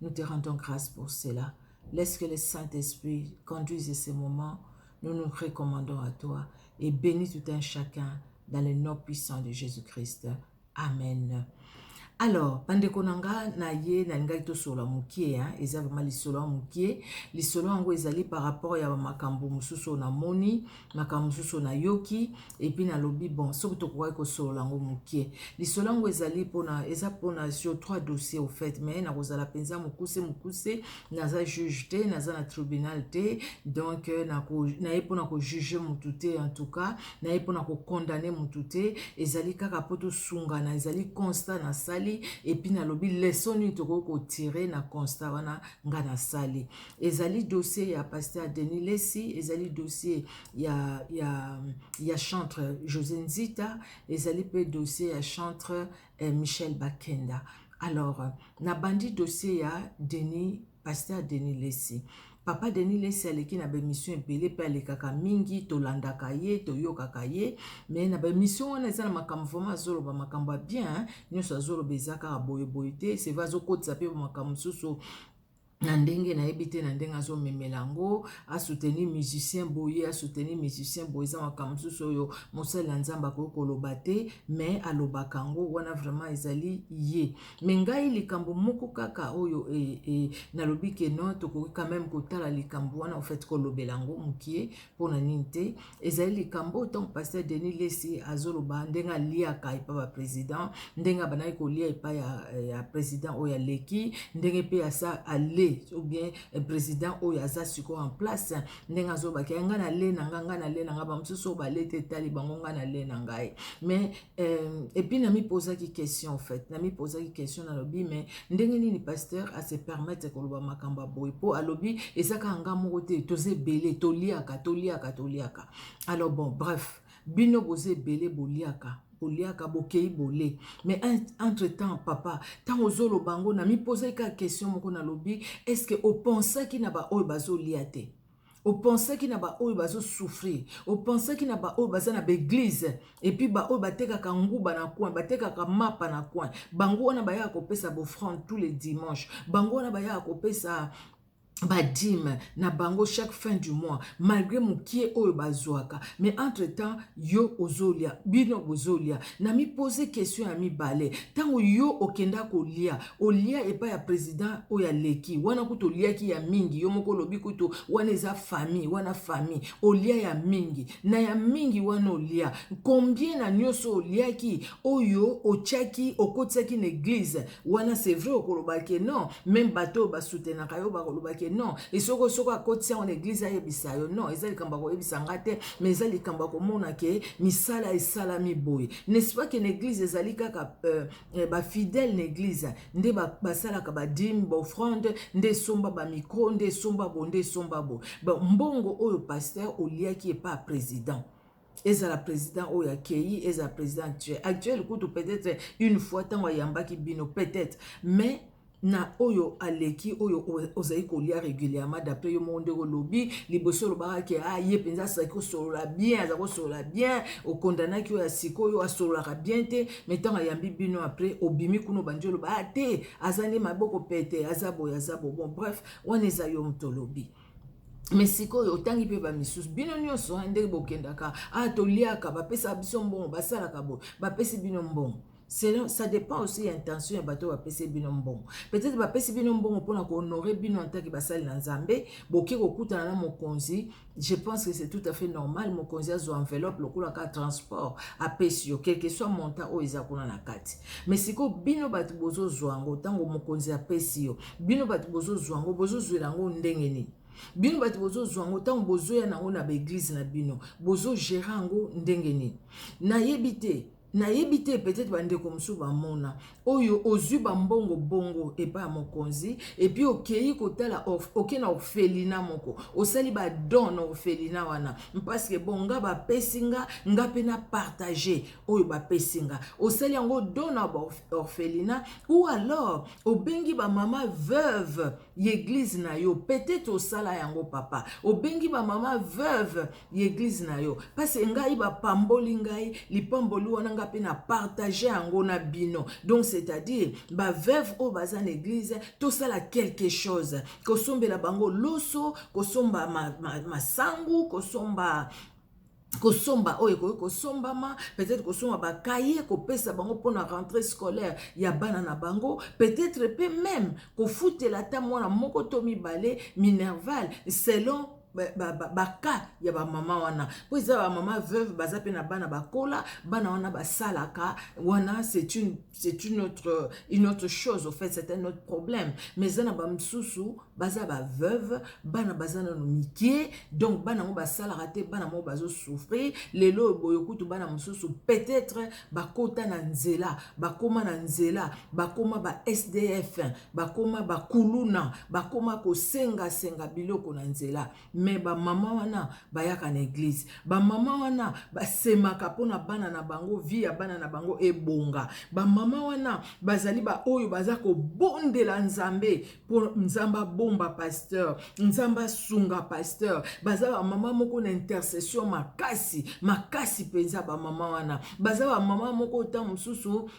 Nous te rendons grace pour cela. Laisse que le Saint-Esprit conduise ce moment. Nous nous recommandons à toi et bénis tout un chacun dans le nom puissant de Jésus-Christ. Amen. alors bandeko na nga na ye nalingaki tosolola mokie eza vraimen lisolo ya mokie lisolo yango ezali par rapport ya makambo mosusu oyo namoni makambo mosusu nayoki epuis nalobi bon soki tokokaki kosolola yango mokie lisolo yango ezali mpona eza mpona sur trois dossier au fait mais nakozala mpenza mokuse mokuse naza juge te naza na tribunal te donc euh, naye mpona kojuge motu te en tout cas naye mpona kokondane motu te ezali kaka mpo tosungana ezali constat nasali epuis nalobi leson nini tokoki kotire na constat wana ngai nasali ezali dossier ya pasteur Denis Lessi ezali dossier ya ya ya chantre José Nzita ezali pe dossier ya chantre eh, Michel Bakenda alors na bandi dossier ya Denis pasteur Denis Lessi papa Denis Lessi aleki na bemission ebele pe alekaka mingi tolandaka ye toyokaka ye me na bemission wana eza na makambo vraimen azoloba makambo ya bien nyonso azoloba eza kaka boyeboye te sevre azokotisa pe makambo mosusu na ndenge nayebi te na ndenge azomemela yango asoutenir musicien boye asoutenir musicien boye eza makambo mosusu oyo mosali ya nzambe akoki koloba te me alobaka yango wana vraiment ezali ye me ngai likambo moko kaka oyo e, e, nalobi ke no tokoki quand meme kotala likambo wana ofait kolobela yango mokie mpo na nini te ezali likambo oyo ntango paster denis lesi azoloba ndenge aliaka epai ba président ndenge abandaki kolia epai ya, ya président oyo aleki ndenge mpe asa ale ou bien eh, président oyo aza sikoyo en place ndenge azolobaki ya ngai nale na ngai ngai nale na ngai bamosusu oyo balete etali bango ngai nale na ngai mais Euh, et puis nami posaki question en fait nami posaki question nalobi mais ndenge nini pasteur a se permettre koloba makambo boye mpo alobi eza kaka nga moko te toza ebele toliaka toliaka toliaka alors bon bref bino boza ebele boliaka boliaka bokei bole mais entre temps papa ntango ozoloba yango nami posaki kaka question moko nalobi est ce que opensaki na baoyo bazolia te opensaki na baoyo bazosouffrir opensaki na baoyo baza na baeglize epuis baoyo batekaka nguba na coin batekaka mapa na coin bango wana bayaka kopesa bofrande tous les dimanche bango wana bayaka kopesa badime na bango chaque fin du mois malgré mokie oyo bazwaka mais entre temps yo ozolia bino bozolia na mipose question ya mibale ntango yo okenda kolia olia epai ya president oyo aleki wana kutu oliaki ya mingi yo moko olobi kutu wana eza famille wana famille olia ya mingi na ya mingi wana olia combien na nyonso oliaki oyo otiaki okotisaki na eglise wana c'est vrai okoloba ke non meme bato oyo basutenaka yo bakoloba ke non esoko soko akotisa yango na eglise ayebisa yo non eza likambo ya koyebisa nga te mais eza likambo ya komona ke misala esalami boye n'est-ce pas ke na eglise ezali kaka euh, Eh, ba fidèle na église nde basalaka ba badime baofrande nde esomba bamicro nde esomba bo nde esomba bo mbongo oyo pasteur oliaki epa président ezala président oyo akei ezala président actuel actuel kutu peut-être une fois ntango ayambaki bino peut-être mais na oyo aleki oyo ozali kolia régulièrement d'après yo moko ndenge olobi liboso olobaka ke ah ye mpenza azali kosolola bien aza kosolola bien okondanaki oyo ya sikoyo asololaka bien te mai ntango ayambi bino après obimi kuna obandi oloba ah te aza nde maboko pete aza boye aza bo bon bref wana eza yo moto olobi me sikoyo otangi mpe bamisusu bino nyonso ndenge bokendaka ah toliaka bapesaka biso mbongo basalaka boye bapesi bino mbongo selon ça dépend aussi ya intention ya bato oyo bapesi bino mbongo peut-être bapesi bino mbongo mpona kohonore bino antake basali na nzambe boke kokutana na mokonzi je pense que c'est tout à fait normal mokonzi azwa enveloppe lokola ka transport apesi yo quelque soit montant oyo eza kuna na kati mais sikoyo bino bato bozozwa yango ntango mokonzi apesi yo bino bato bozozwa yango bozozwela yango ndenge nini bino bato bozozwa yango ntango bozoya na yango na baeglize na bino bozogera yango ndenge nini nayebi te Nayebi te peut-etre ba ndeko mosusu ba mona oyo ozui ba mbongo bongo epa ya mokonzi et puis okeyi kotala oke na orphelina moko osali ba don na orphelina wana parce que bon nga ba pesi nga nga pe na partage oyo ba pesi nga osali yango don na ba orphelina ou alors obengi ba mama veuve ya eglise na yo peut-etre osala yango papa obengi ba mama veuve ya eglize na yo pase ngai bapamboli ngai lipamboli wana ngai mpe na partage yango na bino donc c'est-à-dire baveuve oyo baza na eglize tosala quelque chose kosombela bango loso kosomba masangu ma, ma kosomba kosomba oyo ekoki kosombama peut-être kosomba bakaye kopesa bango mpona rentrée scolaire ya bana na bango peut-être mpe meme kofutela ata mwana moko to mibale minerval selon baka ya bamama wana mpo eza bamama veuve baza mpe na bana bakola bana wana basalaka wana c'est une, c'est une, autre, une autre chose au fait c'est un autre problème mais eza na bamosusu baza baveuve bana baza nano mike donc bana yango basalaka te bana moko bazosouffrir lelo oyo boye kutu bana mosusu peut-être bakota na nzela bakóma na nzela bakóma ba sdf bakoma bakuluna bakoma kosengasenga biloko na nzela me bamama wana bayaka na eglize bamama wana basemaka mpona bana na bango vi ya bana na bango ebonga bamama wana bazali baoyo baza kobondela nzambe mpo nzambe abomba pasteur nzambe asunga pasteur baza bamama moko na intercession makasi makasi mpenza bamama wana baza bamama moko ntango mosusu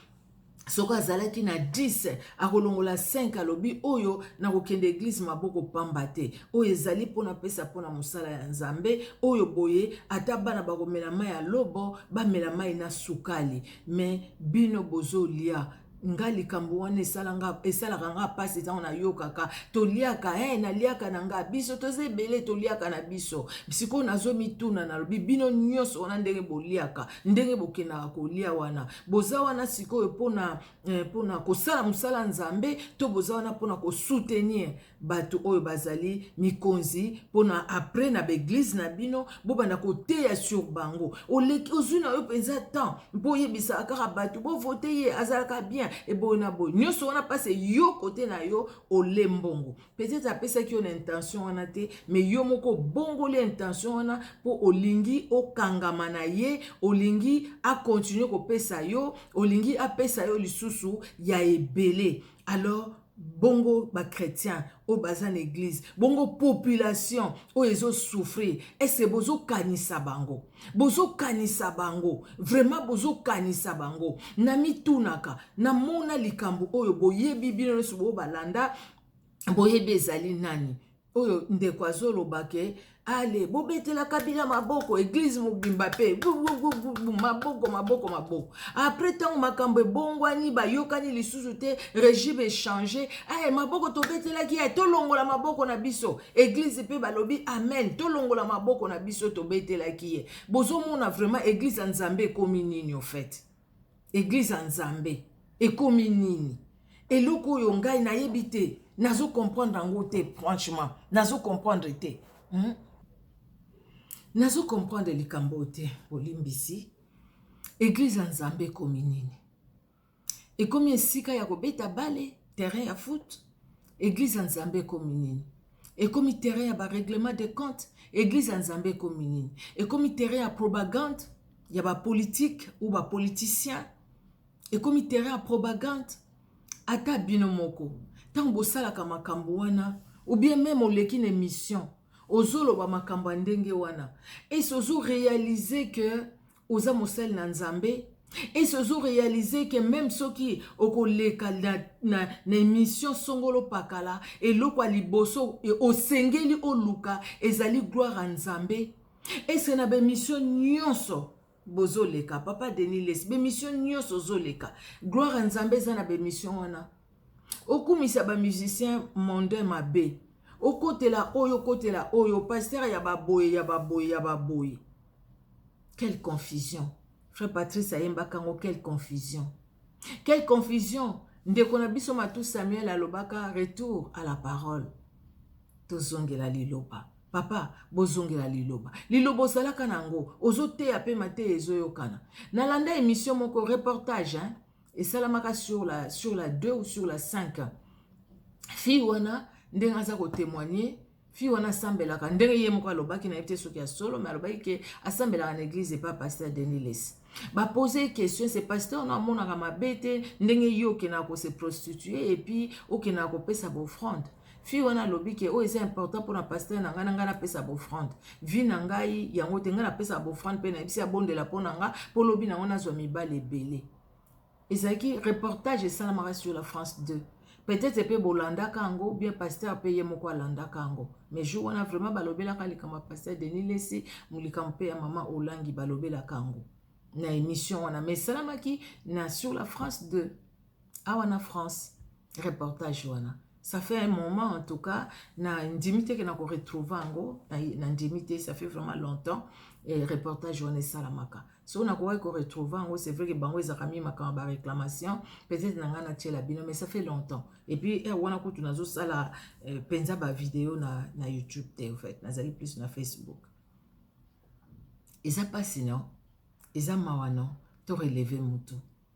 soki azalaki na 10 akolongola 5 alobi oyo nakokende eglize maboko pamba te oyo ezali mpo napesa mpo na mosala ya nzambe oyo boye ata bana bakomela mai ya lobo bamela mai na sukali me bino bozolia nga likambo wana esalaka nga mpasi ntango nayokaka toliaka e eh, naliaka na nga biso toza ebele toliaka na biso sikoyo nazomituna nalobi bino nyonso wana ndenge boliaka ndenge bokendaka kolia wana boza wana sikoyo mpona eh, mpona kosala mosala nzambe to boza wana mpona kosoutenir bato oyo bazali mikonzi mpona apres na baeglize na bino bobanda koteya sur bango oleki ozwi na yo mpenza temps mpo oyebisaka kaka bato bovote ye azalaka bien eboye na boye nyonso wana mpasi eyo kote na yo ole mbongo peut-être apesaki yo na intention wana te mais yo moko obongoli intention wana mpo olingi okangama na ye olingi akontinue kopesa yo olingi apesa yo lisusu ya ebele alors bongo bachrétien oyo baza na eglize bongo population oyo ezosouffrir ese bozokanisa bango bozokanisa bango vraiment bozokanisa bango namitunaka namona likambo oyo boyebi bino nyonso boyo balanda boyebi ezali nani oyo ndeko azoloba ke ale bobetela kabila maboko eglize mobimba mpe maboko maboko maboko apres ntango makambo ebongwani bayokani lisusu te regime echange aye maboko tobetelaki ye tolongola maboko na biso eglize mpe balobi amen tolongola maboko na biso tobetelaki ye bozomona vraiment eglize ya nzambe ekomi nini ofete Eglise ya nzambe ekomi nini eloko oyo ngai nayebi te nazo comprendre yango te franchement nazo comprendre te hmm? nazo comprendre likambo oyo te bolimbisi eglise ya nzambe ekomi nini ekomi esika ya kobeta bale terrain ya foot eglise ya nzambe ekomi nini Ekomi terrain ya ba reglements de comptes? Eglise ya Nzambe ekomi nini? Ekomi terrain ya propagande ya ba politiques ou ba politiciens? Ekomi terrain ya propagande? Ata bino moko tango bosalaka makambo wana ou bien meme oleki na emission ozoloba makambo ya ndenge wana esi ozo realiser que oza mosali na nzambe esi ozo realize ke meme soki okoleka na, na, na emission songolo pakala eloko ya liboso e, osengeli oluka ezali gloire ya nzambe ese na bemission nyonso bozoleka papa denis lesi bemission nyonso ozoleka gloire ya nzambe eza na bemission wana okumisa bamusicien monde mabe okotela oyo okotela oyo paster ya baboye ya baboye ya baboye Quelle confusion frère Patrice ayembaka yango quelle confusion quelle confusion ndeko na biso Matou Samuel alobaka retour à la parole tozongela liloba papa bozongela liloba liloba ozalaka na yango ozoteya mpe mateya ezoyokana nalanda émission moko reportage hein? esalamaka sur la, sur la 2 ou sur la 5 fille wana ndenge aza kotémoigne fille wana asambelaka ndenge ye moko alobaki na ye te soki ya solo me alobaki ke asambelaka na eglise epa pasteur denis lesi bapose ye question se pasteur no amonaka mabe te ndenge ye okendaka kose prostitue epuis okendaka kopesa baofrande fille wana alobi ke oyo eza important mpona pasteur na ngai na ngai napesa baofrande vi na ngai yango te ngai napesaka baofrande mpe nayebisi abondela mpo na ngai mpo lobi na yango nazwa mibali ebele ezalaki reportage esalamaka sur la France 2 peut-être mpe bolandaka yango bien pasteur mpe ye moko alandaka yango mais jour wana vraiment balobelaka likambo ya pasteur Denis Lessi likambo mpe ya mama Olangi balobelaka yango na émission wana mais esalamaki na sur la France 2 awa na France reportage wana ça fait un moment en tout cas na ndimi te ke na ko retrouver yango na ndimi te ça fait vraiment longtemps et reportage wana esalamaka so nakokaki ko retrouver yango c'est vrai ke bango ezalaka mi makambo ba réclamation peut-être na ngai natiela bino mais ça fait longtemps et puis heure wana kutu nazosala eh, mpenza euh, bavideo na, na youtube te en fait nazali plus na facebook eza mpasi non eza mawa non to releve motu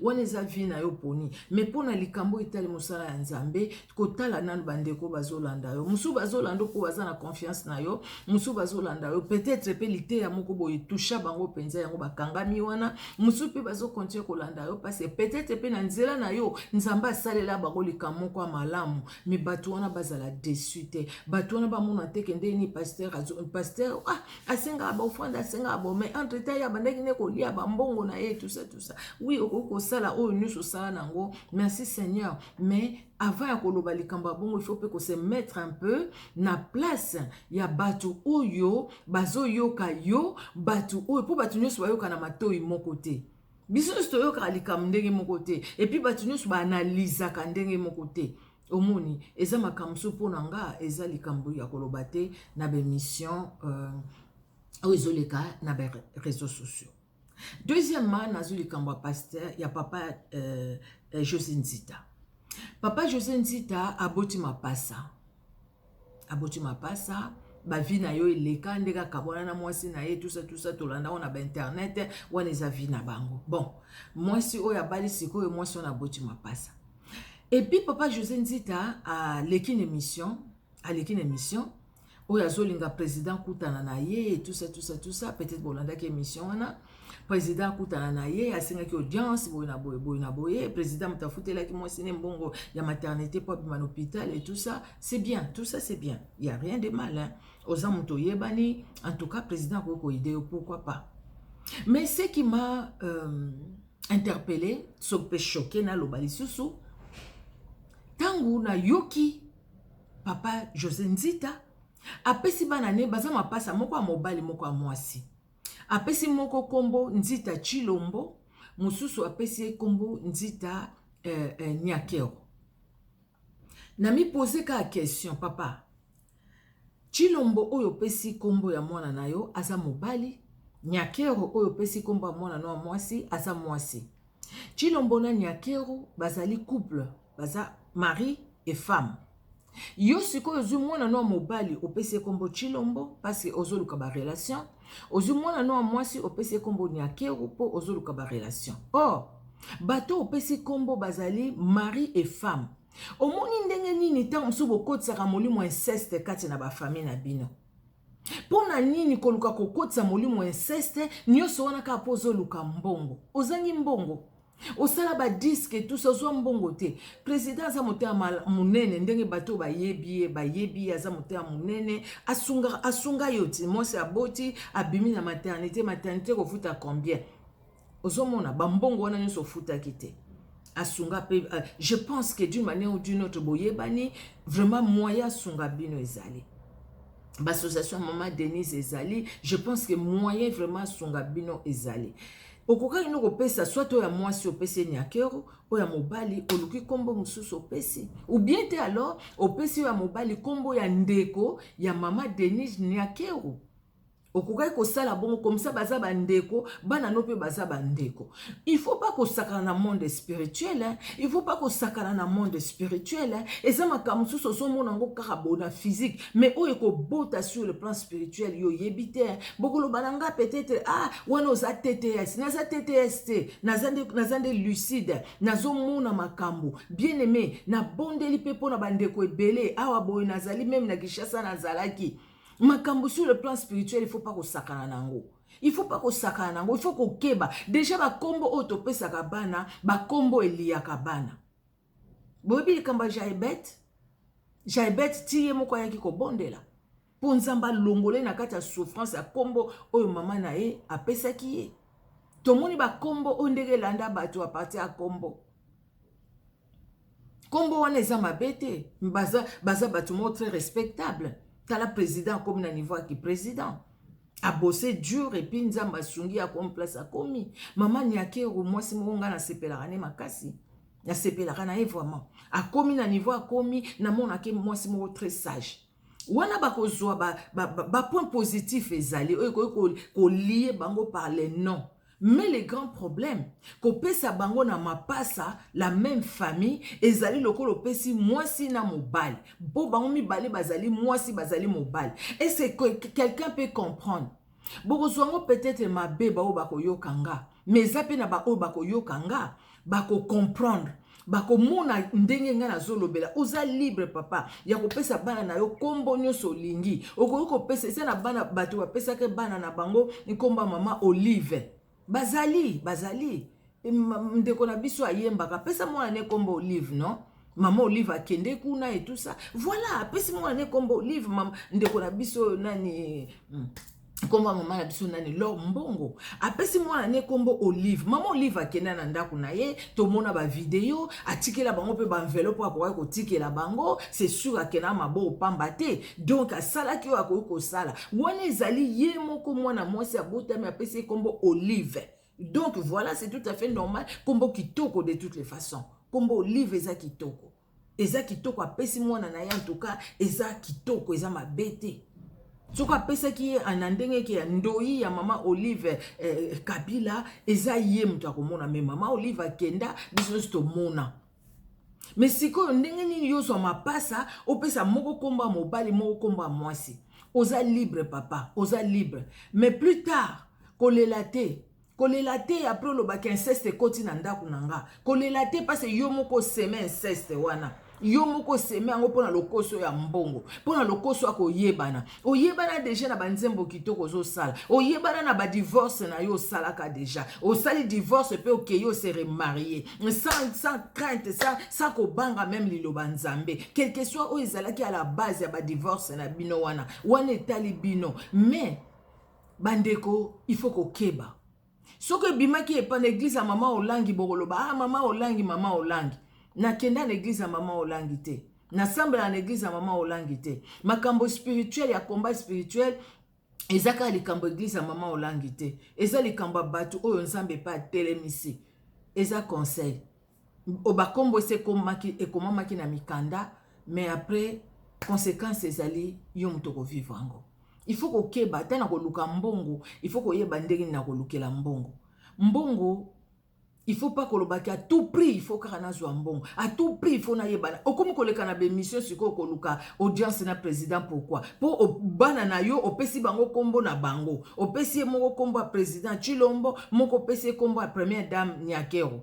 wana eza vie na yo oponi mais mpo na likambo oyo etali mosala ya nzambe kotala nano bandeko bazolanda yo mosusu bazolanda mpo baza na confiance na yo mosusu bazolanda yo peut-être mpe liteya moko boye tusha bango mpenza yango bakangami wana mosusu mpe bazokontinue kolanda yo parce peut-être mpe na nzela na yo nzambe asalela bango likambo moko ya malamu mais bato wana bazala desu te bato wana bamona te kendeni paster paster ah asengaka baofrande asengaka bo mais entre temps ye abandaki nde kolia bambongo na ye tusa tusa wi okoki kosala oyo nyonso osala na yango merci seigneur mais avant ya koloba likambo ya bongo ifo mpe kose mettre un peu na place ya bato oyo bazoyoka yo bato oyo mpo bato nyonso bayoka na matoi moko te biso nyonso toyokaka likambo ndenge moko te epuis bato nyonso baanalizaka ndenge moko te Omoni, eza makambo so mpo na nga, eza likambo ya koloba te na bemission euh, oyo ezoleka na ba réseaux sociaux. Deuxièmement, nazo likambo ya pasteur ya papa euh, euh, José Nzita. Papa José Nzita aboti mapasa. aboti mapasa ba vie na yo eleka ndenge akabwana na mwasi na ye tusa tusa tolanda yango na bainternet wana eza vie na bango bon mwasi oyo abali sikoyo mwasi wana aboti mapasa epuis papa josé nzita aleki na émission aleki na émission oyo azolinga président kutana na ye tusa tusa tusa peut-être bolandaki émission wana président akutana na ye asengaki audience boye na boye boye na boye président moto afutelaki mwasi ne mbongo ya maternité mpo abima na hôpital et tout ça c'est bien tout ça c'est bien il y a rien de mal hein? oza moto oyebani en tout cas président akoki koide yo pourquoi pas mais ce qui m'a euh, interpellé sope choqué naloba lisusu ntango nayoki papa josé nzita apesi bana ne baza mapasa moko ya mobali moko ya mwasi Apesi moko kombo Nzita Tshilombo, mosusu apesi ye kombo Nzita eh, eh, Nyakero. Na mi poser ka question papa. Tshilombo oyo pesi kombo ya mwana na yo aza mobali, Nyakero oyo pesi kombo ya mwana na mwasi aza mwasi. Tshilombo na Nyakero bazali couple, baza mari et femme. Yo sikoyo ozwi mwana no ya mobali opesi ye kombo Chilombo parce que ozoluka ba relation. Ozwi mwana no ya mwasi opesi ye kombo Nyakeru mpo ozoluka ba relation. Or, bato opesi kombo bazali mari et femme. Omoni ndenge nini ntango mosusu bokotisaka molimo ya inceste kati na bafamille na bino? Mpo na nini koluka kokotisa molimo ya inceste nyonso wana kaka mpo ozoluka mbongo? Ozangi mbongo? osala ba disque tout ça ozwa mbongo te président aza motema monene ndenge bato bayebi ye bayebi ye aza motema monene asunga asunga yo ti mwasi aboti abimi na maternité maternité kofuta combien ozomona bambongo wana nyonso ofutaki te asunga mpe euh, je pense que d'une manière ou d'une autre boyebani vraiment moyen asunga bino ezali bassociation mama denise ezali je pense que moyen vraiment asunga bino ezali Okokaki no kopesa soit oyo ya mwasi opesi ye nyakero, oyo ya mobali oluki kombo mosusu opesi. Ou bien te alors opesi oyo ya mobali kombo ya ndeko ya mama Denise nyakero. Okokaki kosala bongo comme ça baza ba ndeko, bana no pe baza ba ndeko. Il faut pas kosakana na monde spirituel, hein? il faut pas kosakana na monde spirituel. Hein? Eza makambo mosusu ozomona yango kaka bo na physique. mais oyo ekobota sur le plan spirituel yo oyebi te bokoloba na nga peut-être ah wana oza tts naza tts te naza nde naza nde lucide nazomona makambo bien aimé nabondeli mpe mpo na bandeko ebele awa boye nazali meme na kinshasa nazalaki makambo sur le plan spirituel il faut pas kosakana na yango il faut pas kosakana na yango il faut kokeba deja bakombo oyo topesaka bana bakombo eliyaka bana boyebi likambo ya jaebete jaebete ti ye moko ayaki kobondela mpo nzambe alongole na kati ya souffrance ya nkombo oyo mama na ye apesaki ye tomoni bankombo oyo ndenge elanda bato ya parti ya nkombo nkombo wana eza mabe te baza, baza bato moko très respectable tala président akomi na niveau ya kiprésident abose dur epuis nzambe asungi akomi place akomi mama niakeru mwasi moko ngai nasepelaka ne makasi nasepelaka na ye vraiment akomi na niveau akomi namonake mwasi moko très sage wana bakozwa bapoint ba, ba, ba, ba positif ezali oyo ekoki kolie bango par le nom mais le grand problème kopesa bango na mapasa la même famille ezali lokola opesi mwasi na mobali mpo bango mibale bazali mwasi bazali mobali est ce que quelqu'un peut comprendre Bokozwa yango peut-etre mabe baoyo bakoyoka nga, mais eza mpe na baoyo bakoyoka nga bako comprendre bakomona ndenge ngai nazolobela. Oza libre papa ya kopesa bana na yo nkombo nyonso olingi, okoki kopesa eza na bana bato bapesaki bana na bango nkombo ya mama Olive Bazali, bazali. Ndeko na biso ayembaka, pesa mwana ne kombo Olive, non? Maman Olive akende kuna et tout ça. Voilà, pesa mwana ne kombo Olive, maman ndeko na biso nani hmm, kombo ya mama na biso nani lor mbongo apesi mwana ne kombo olive mama olive akenda na ndako na ye tomona bavideo atikela bango mpe baenveloppe akokaki kotikela bango c'est sur akenda maboko pamba te donk asalaki oyo akoki kosala wana ezali ye moko mwana mwasi abotami apesi ye nkombo olive donk voilà c'est tout à fait normal nkombo kitoko de toutes les façons nkombo olive eza kitoko eza kitoko apesi mwana na ye antuka eza kitoko eza mabe te soki apesaki ye na ndenge eke ya ndoi ya mama olive eh, kabila eza ye moto akomona me mama olive akenda biso nyonso tomona Mais sikoyo ndenge nini yo zwa mapasa opesa moko kombo ya mobali moko kombo ya mwasi oza libre papa oza libre mais plus tard kolela te kolela te après oloba ke inceste ekoti na ndako na nga kolela te parce yo moko oseme inceste wana yo moko oseme yango mpo na lokoso ya mbongo mpo na lokoso ya koyebana oyebana deja na banzembo kitoko ozosala oyebana na badivorce na yo osalaka deja osali divorce mpe okei ose remarie sans, sans crainte sans, sans kobanga meme liloba nzambe quelque soit oyo ezalaki à la base ya badivorce na bino wana wana etali bino mais bandeko il faut kokeba soki ebimaki epa na eglize ya mama olangi bokoloba ah mama olangi mama olangi nakenda na eglize ya mama olangi te nasambela na eglize ya mama olangi te makambo spirituel ya combat spirituel eza kaka likambo eglize ya mama olangi te eza likambo ya bato oyo nzambe epa atelemisi eza conseil O ba kombo esi ekomaki ekomamaki na mikanda mais après consequence ezali yo moto oko vivre yango il faut kokeba ata na koluka mbongo il faut koyeba ndenge na kolukela mbongo mbongo il faut pas kolobaki à tout prix il faut kaka nazwa mbongo à tout prix il faut nayebana okomi koleka na bemission sikoyo koluka audience na président pourquoi mpo bana na yo opesi bango nkombo na bango opesi ye moko nkombo ya président chilombo moko opesi ye nkombo ya première dame nyakero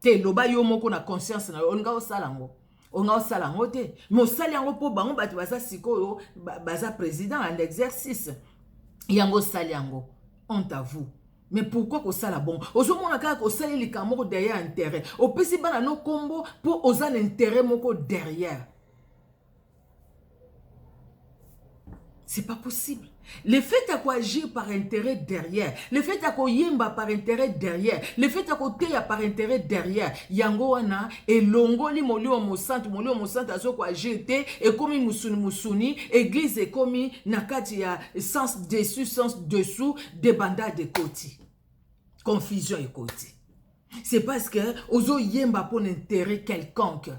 te loba yo moko na conscience na yo olinga osala yango olinga osala yango te me osali yango mpo bango bato baza sikoyo baza président en exercice yango osali yango honte à vous mais pourquoi kosala bongo ozomona kaka osali likambo moko derrière intérêt opesi bana no nkombo mpo oza na intérêt moko derrière C'est pas possible. Le fait ya koagir par intérêt derrière, le fait ya koyemba par intérêt derrière, le fait ya koteya par intérêt derrière, yango wana elongoli molimo mosantu, molimo mosantu azo koagir te, ekomi musuni musuni, eglise ekomi na kati ya sens dessus, sens dessous, debandade ekoti. Confusion ekoti. c'est parce que ozoyemba mpo na intérêt quelconque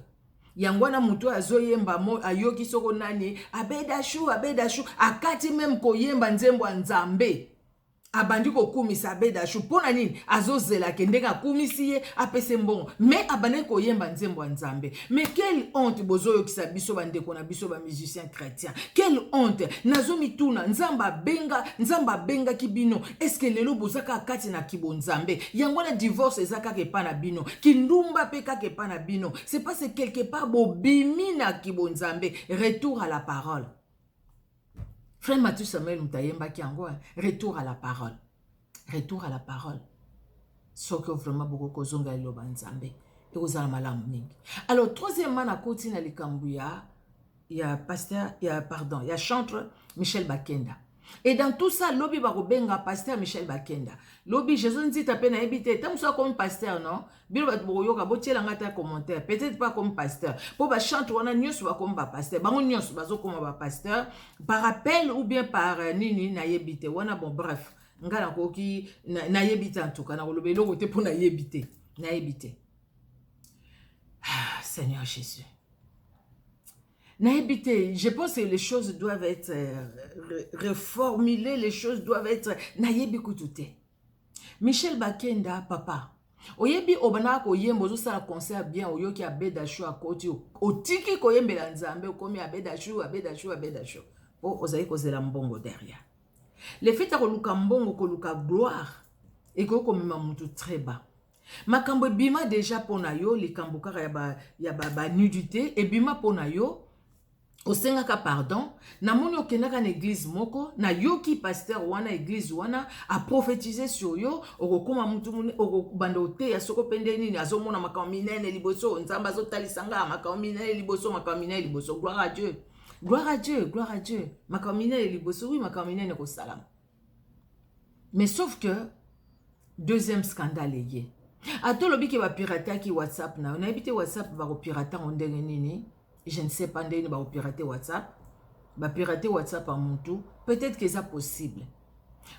yango wana moto oyo azoyemba ayoki soko nani abedashu abedashu akati meme koyemba nzembo ya nzambe abandi kokumisa abedashu mpo na nini azozelake ndenge akumisi ye apesi mbongo me abandaki koyemba nzembo ya nzambe mais quelle honte bozoyokisa biso bandeko na biso bamusicien chrétien quelle honte nazomituna nzambe abenga nzambe abengaki bino eske lelo boza kaka kati na kibonzambe yango wana divorce eza kaka epa na bino kindumba mpe kaka epa na bino c'est parce quelque part bobimi na kibonzambe retour à la parole Frère Mathieu Samuel moto ayembaki yango eh, retour à la parole retour à la parole soki vraiment bokoki kozongela liloba nzambe ekozala malamu mingi alors troisièmement nakoti na likambo ya ya pasteur ya pardon ya chantre michel bakenda et dans tout ça lobi bakobenga pasteur michel bakenda lobi jesus nzita mpe nayebi te ta mosusu akomi pasteur non bino bato bokoyoka botyela ngai ata commentaire peut-être pas comme pasteur mpo bachante wana nyonso bakomi bapasteur bango nyonso bazokoma bapasteur par appel ou bien par euh, nini nayebi te wana bon bref ngai nakoki nayebi te antuka nakoloba eloko te mpo nayebi te nayebi te ah, seigneur jésus nayebi te je pense que les choses doivent être euh, reformulées les choses doivent être nayebi kutu te Michel Bakenda papa oyebi obandaka koyemba ozosala concert bien oyoki abedashu akoti otiki koyembela nzambe okomi abedashu abedashu abedashu mpo ozali kozela mbongo derrière le fait ya koluka mbongo koluka gloire ekoki komema motu très bas makambo ebima deja mpo na yo likambo kaka ya banudité ebima mpo na yo osengaka pardon namoni okendaka na eglize moko nayoki pasteur wana eglize wana aprofetize sur yo okokoma mutu mune okobanda oteya soko mpe nde nini azomona makambo minene liboso nzambe azotalisa ngaa makambo minene liboso makambo minene liboso gloire a dieu gloire a dieu gloire a dieu makambo minene liboso wi makambo minene kosalama mais sauf que deuxième scandale eye ata olobi ke bapirataki whatsapp na yo nayebi te whatsapp bakopirate yango ndenge nini je ne sais pas ndenge nini bakopirate whatsapp bapirate whatsapp ya mutu peut-être ke eza possible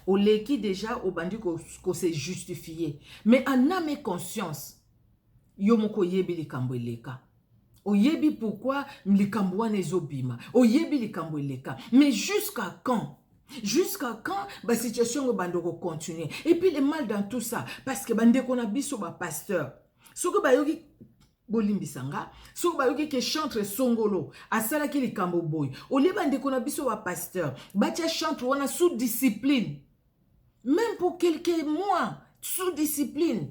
oleki deja obandi kose ko justifier mais en ame et conscience Yo moko oyebi likambo eleka. Oyebi pourquoi likambo wana ezobima. Oyebi likambo eleka. Mais jusqu'à quand? Jusqu'à quand ba situation ngo bando ko continuer? Et puis le mal dans tout ça parce que bande ko na biso ba pasteur. Soko ba yoki bolimbisa nga soki bayoki ke chantre songolo asalaki likambo boye olie bandeko na biso ba pasteur batya chantre wana sous discipline même pour quelques mois sous discipline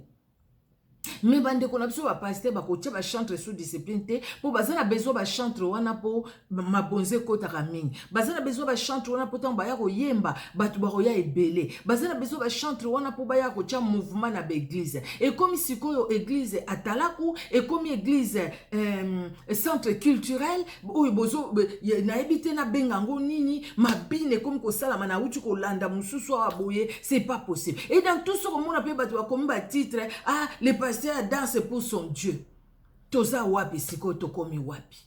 mais bandeko na biso bapaster bakotya bachantre sous discipline te mpo baza na besoin bachantre wana mpo mabonza ekotaka mingi baza na besoin bachantre wana mpo ntango baya koyemba bato bakoya ebele baza na besoin bachantre wana mpo baya kotya mouvement na baeglize ekomi sikoyo eglize atalaku ekomi eglize euh, centre culturel oyo bozo nayebi te nabenga yango nini mabina ekomi kosalama nauti kolanda mosusu awa boye c'est pas possible et dans tout ce komona mpe bato bakomi batitre ah le pasteur danse pour son dieu toza wapi sikoyo tokomi wapi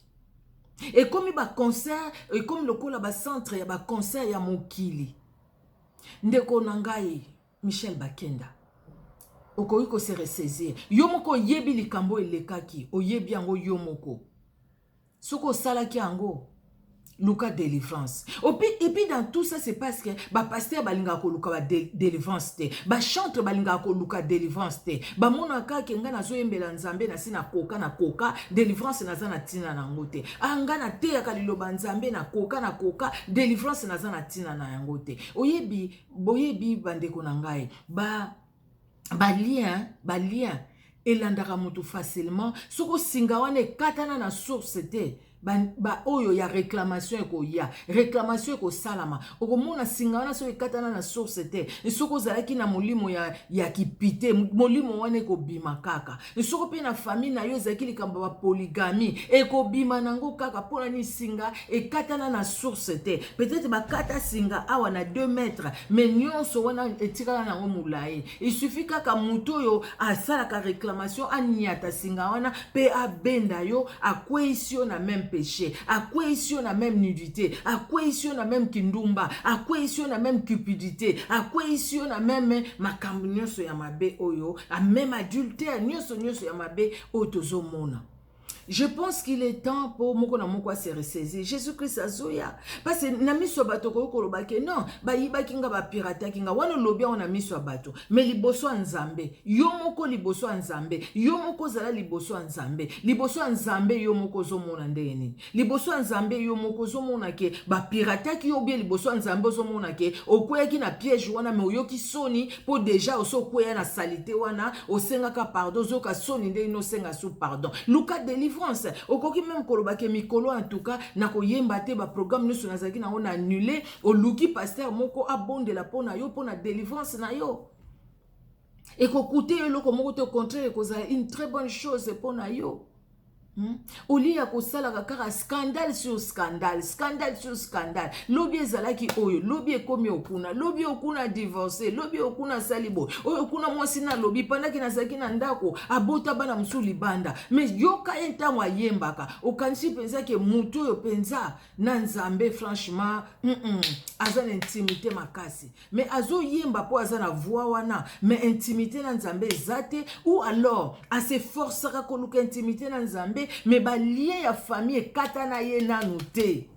ekomi baconcert ekomi lokola bacentre ya baconcert ya mokili ndeko na ngai Michel Bakenda okoki ko se ressaisir yo moko oyebi likambo elekaki oyebi yango yo moko soki osalaki yango luka délivrance et puis dans tout ça c'est parce que bapasteur balingaka koluka ba délivrance te bachantre balingaka koluka délivrance te bamonaka ke ngai nazoyembela nzambe nasi na koka na koka délivrance naza na ntina na yango te a ah, ngai nateyaka liloba nzambe na koka na koka délivrance naza na ntina na yango te oyebi Boyebi bandeko na ngai, ba ba lien ba lien elandaka moto facilement soko singa wana ekatana na source te baoyo ya reclamation ekoya reclamation ekosalama okomona singa wana soki ekatana na source te soki ozalaki na molimo ya, ya kipite molimo wana ekobima kaka soko mpe na famille na yo ezalaki likambo ya bapoligami ekobima na yango kaka mpo na nini singa ekatana na source te peut-être bakata singa awa na 2 mètre mais nyonso wana etikala na yango molai isufi kaka moto oyo asalaka réclamation aniata singa wana mpe abenda yo akweisi yo na meme péché akweisi yo na meme nudité akweisi yo na meme kindumba akweisi yo na meme cupidité akweisi yo na meme makambo nyonso ya mabe oyo a même adultère nioso nioso ya mabe oyo tozomona je pense qu'il est temps mpo moko na moko ase resaisir jésus christ azoya parce na miso ya bato okoki koloba ke non bayibaki nga bapirataki nga wana olobi yango na miso ya bato mais liboso ya nzambe yo moko liboso ya nzambe yo moko ozala liboso ya nzambe liboso ya nzambe yo moko ozomona ndenge nini liboso ya nzambe yo moko ozomona ke bapirataki yo bie liboso ya nzambe ozomona ke okweyaki na piège wana me oyoki soni mpo deja osi okweya na salite wana osengaka pardon ozoyoka soni nde ino osenga su pardon luka delivrance okoki meme koloba ke mikolo en tout cas na koyemba te baprogramme nyonso nazalaki na yango na annule oluki paster moko abondela mpo na yo mpo na delivrance na yo ekokute yo eloko moko te au contraire ekozala une très bonne chose mpo na yo Hmm? au lieu ya kosalaka kaka scandale sur scandale scandale sur scandale lobi ezalaki oyo lobi ekomi okuna lobi okuna divorce lobi okuna asali boye oyo kuna mwasi nalobi pandaki nazalaki na ndako abota bana mosusu libanda me yoka ye ntango ayembaka okanisi mpenza ke moto oyo mpenza na nzambe franchement mm -mm, aza na intimité makasi mais azoyemba mpo aza na voix wana mais intimité na nzambe eza te ou alors aseforcaka koluka intimité na nzambe mais balien ya famille ekatana ye nanu te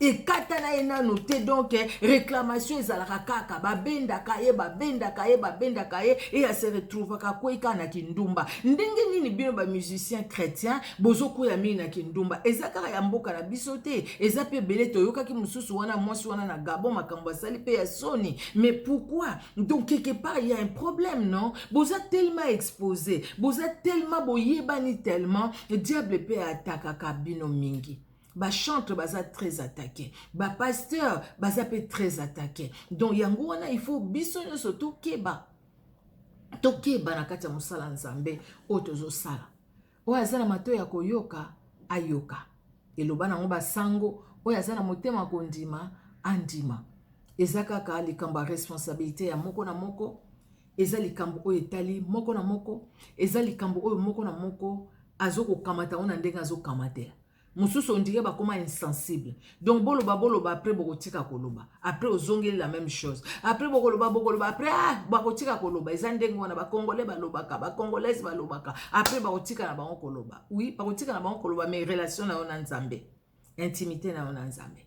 ekatana ye nanu te donc eh, réclamation ezalaka kaka babendaka ye babendaka ye babendaka ye e ase retrouvaka akwei kaka na kindumba ndenge nini bino bamusicien chrétien bozokwea mingi na kindumba eza kaka ya mboka na biso te eza mpe ebele toyokaki mosusu wana mwasi wana na gabon makambo asali mpe ya soni mais pourquoi donc quelque part ya un problème non boza tellement expose boza tellement boyebani tellement diable mpe atakaka bino mingi bachantre baza très attaqué bapasteur baza mpe très attaqué donc yango wana il faut biso nyonso tokeba tokeba na kati ya mosala nzambe oyo tozosala Oyo aza na matoi ya koyoka, ayoka eloba nango basango. Oyo aza na motema ya kondima, andima. Eza kaka likambo ya responsabilite ya moko na moko. Eza likambo oyo etali moko na moko. Eza likambo oyo moko na moko azo kokamata yango na ndenge azo kamatela. mususu on dirait bakoma insensible donc boloba boloba après bokotika koloba après ozongeli la même chose après bokoloba bokoloba après ah, bakotika koloba eza ndenge wana bacongolais balobaka bacongolaise balobaka après bakotika na bango koloba oui bakotika na bango koloba mais relation na yo na nzambe intimité na yo na nzambe